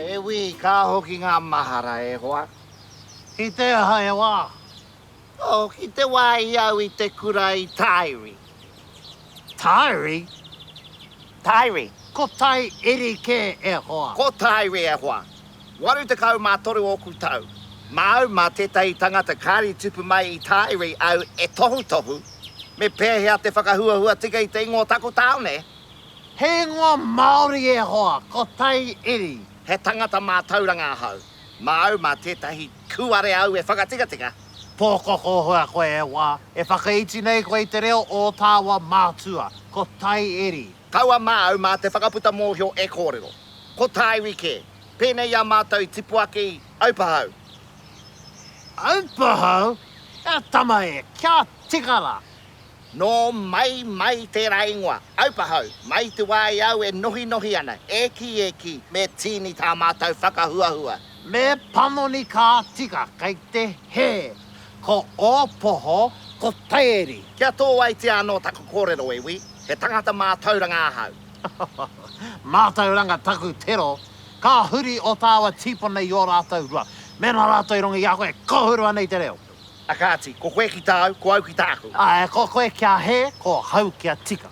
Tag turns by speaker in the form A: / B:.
A: E wī, ka hoki ngā mahara e hoa. Ki te aha he wā? Oh, ki te wāhi au i te kura i Tairi. Tairi? Tairi. Ko Tai Eri kē e hoa? Ko Tairi e hoa. 83 ōku tau, māu mā tētahi tangata kāri tupu mai i tāiri au e tohutohu me pēhea te whakahuahua tika i te ingoa o taku tāone. He ingoa Māori e hoa, ko Tai Iri. He tangata mātauranga ahau, māu mā tētahi kūare au e whakatikatika. Pōkokohua koe e wā, e whakaiti nei koe i te reo ō tāua mātua, ko Tai Iri. Kaua māu mā te whakaputa mōhio e kōrero. Ko tā iwi kē. Pēnei i a mātou i tipu ake i Aupahau. Aupahau? E tama e, kia tika rā! Nō mai mai tērā ingoa, Aupahau, mai i te wā i au e nohinohi ana, e kī e kī, me tīni tā mātou whakahuahua. Me panoni ka tika, kei te hē. Ko ō poho, ko Tairi. Kia tōaitia anō taku kōrero, e wī, he tangata mātauranga ahau. Mātauranga taku tero, ka huri ō tāua tīpuna i ō rātou rua. Mēnā rātou i runga i a koe, ka huru anei te reo. A kāti, ko koe ki tāu, ko au ki tāku. Āe, ko koe kia hē, ko hau kia tika.